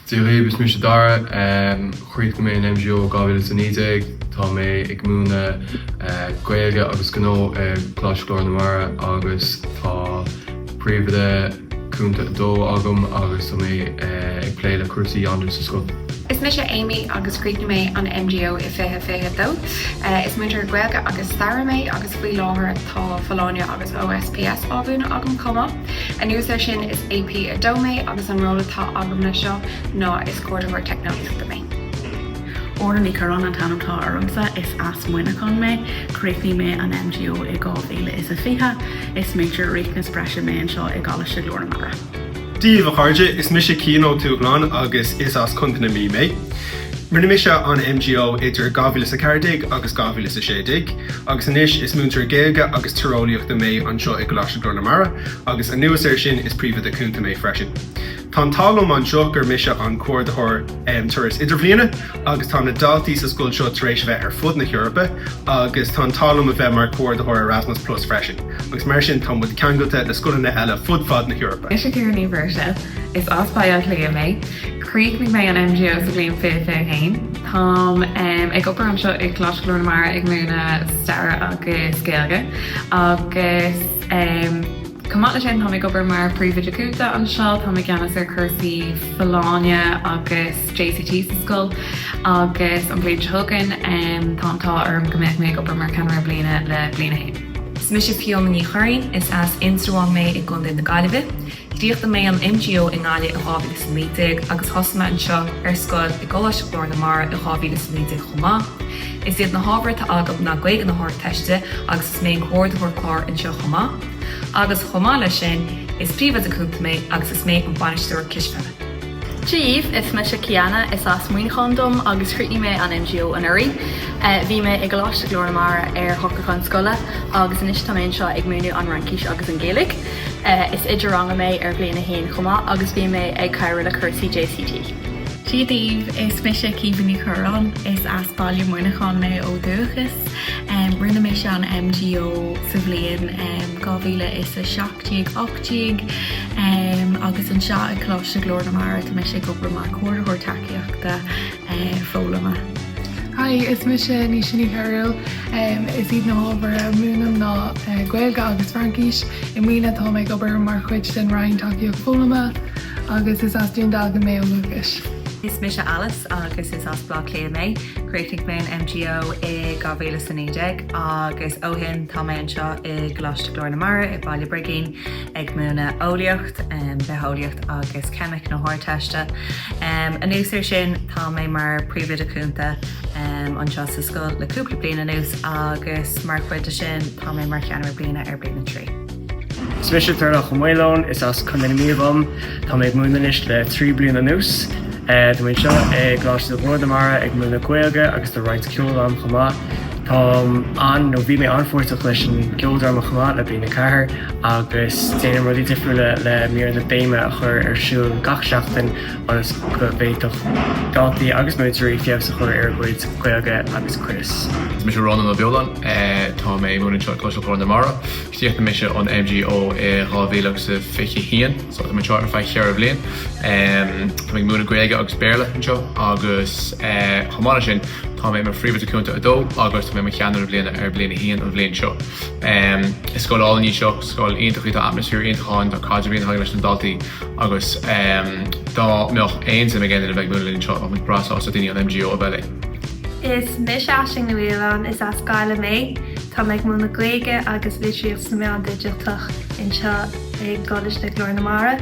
Dia dhaoibh, is mise Dara. Chríochnaigh mé an MGO i 2019. Tá mé ag múineadh Gaeilge agus Gnó i gColáiste Ghlór na Mara agus tá Príomhoide Cúnta 2 agam agus tá mé ag plé le cúrsaí Yondr sa scoil. Is mise Amy agus chríochnaigh mé an MGO i 2022. Is múinteoir Gaeilge agus Staire mé agus faoi láthair tá Folláine agus OSPS á mhúineadh agam chomh maith. Anuas air sin, is AP2 mé agus an ról atá agam leis seo ná is Comhordaitheoir Teicneolaíochta mé. Órnaith Ní Churráin an t-ainm atá ormsa is as Muineachán mé. Chríochnaigh mé an MGO i 2020. Is Major Riachtanas Breise mé anseo i gColáiste Ghlór na Mara. Dia daoibh a chairde, is mise Cian Ó Tuathaláin agus is as Contae na Mí mé. Rinne mise an MGO idir 2014 agus 2016 agus anois is múinteoir Gaeilge agus Tíreolaíochta mé anseo i gColáiste Ghlór na Mara agus anuas air sin is Príomhoide Cúnta mé freisin. Tá an t-ádh liom anseo gur mise an Comhordaitheoir um Turas Idirbhliana agus tá na daltaí sa scoil seo tar éis a bheith ar fud na hEorpa agus tá an t-ádh liom a bheith mar Comhordaitheoir Erasmus Plus freisin agus mar sin tá muid ceangailte le scoileanna eile fud fad na hEorpa. Is mise Ciara Ní Mhuirse. Is as Baile Átha Cliath mé. Chríochnaigh mé an MGO sa bhliain 2021. Táim ag obair anseo i gColáiste Ghlór na Mara ag múineadh Staire agus Gaeilge agus chomh maith leis sin táim ag obair mar Príomhoide Cúnta anseo. Táim i gceannas ar chúrsaí Folláine agus JCT sa scoil agus an bhliain seo chugainn tá an t-ádh orm go mbeidh mé ag obair mar Cheannaire Bliana le Bliain 1. Is mise Fiona Ní Churraoin, is as Indreabhán mé i gContae na Gaillimhe. Chríochnaigh mé an MGO i nGaillimh i 2019 agus thosaigh mé anseo ar scoil i gColáiste Ghlór na Mara i 2019 chomh maith. Is iad na hábhair atá agam ná Gaeilge na hArdteiste agus is mé an Comhordaitheoir Cláir anseo chomh maith. Agus chomh maith leis sin, is Príomhoide Cúnta mé agus is mé an Bainisteoir Cispheile. Dia daoibh is mise Ciana, is as Muineachán dom agus chríochnaigh mé an MGO anuraidh. Bhí mé i gColáiste Ghlór na Mara ar shocrúchán scoile agus anois tá mé anseo ag múineadh an Fhraincis agus an Ghaeilge. Is oide ranga mé ar bhliain a haon chomh maith agus bíonn mé ag cabhrú le cúrsaí JCT. Dia daoibh, is mise Caoimhe Ní Churráin. Is as Baile Mhuineacháin mé ó dhúchas. Rinne mise an MGO sa bhliain dhá mhíle is a seacht déag, ocht déag, agus anseo i gColáiste Ghlór na Mara tá mise ag obair mar Comhordaitheoir Tacaíochta. foghlama. Hi, is mise Naoise Ní Chearúil. Is iad na hábhair a mhúinim ná Gaeilge agus Fraincis. I mbliana táim ag obair mar chuid den Roinn Tacaíocht Foghlama agus is as Dún Dealgan mé ó dhúchas. Is mise Alice agus is as Baile Átha Cliath mé. Chríochnaigh mé an MGO i 2019 agus ó shin tá mé anseo i gColáiste Ghlór na Mara i mBaile Brigín. ag múineadh eolaíocht, bitheolaíocht agus ceimic na hArdteiste. Anuas ar sin, tá mé mar Príomhoide Cúnta anseo sa scoil le cúpla bliain anuas agus mar chuid de sin tá mé mar cheannaire bliana ar bliain a trí. Is mise Turlough Ó Maoileoin, is as Contae na Mí dom, tá mé ag múineadh anois le trí bliain anuas. Tá mé anseo i gColáiste Ghlór na Mara ag múineadh Gaeilge agus déanaim roinnt ceoil ann chomh maith. Táim an-, nó bhí mé an-pháirteach leis an gceoldráma chomh maith le Bliain 4 agus déanaim rudaí difriúla le míreanna béime a chur ar siúl gach seachtain ionas go bhféadfadh daltaí agus múinteoirí feabhas a chur ar a gcuid Gaeilge agus cuireas Is mise Rónán Ó Beoláin. Tá mé ag múineadh anseo i gColáiste Ghlór na Mara. Chríochnaigh mise an MGO i dhá mhíle agus a fiche haon so tá mé anseo ar feadh cheithre bhliain. Tá mé ag múineadh Gaeilge agus Béarla anseo agus chomh maith le sin tá mé i mo Phríomhoide Cúnta 2 agus tá mé i mo Cheannaire Bliana ar Bliain a haon an bhliain seo. Is scoil álainn í seo, scoil iontach í, tá atmaisféar iontach ann, tá caidreamh iontach agam leis na daltaí agus dá mbeadh aon suim ag aon duine a bheith ag múineadh linn anseo tá muid breá sásta daoine ón MGO a bheith linn. Is mise Aisling Ní Mhaoláin, is as Gaillimh mé. Táim ag múineadh Gaeilge agus Litearthacht sna Meáin Dhigiteacha anseo i gColáiste Ghlór na Mara.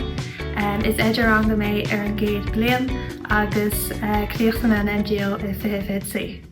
Is oide ranga mé ar an gcéad bliain agus chríochnaigh mé an MGO i 2023.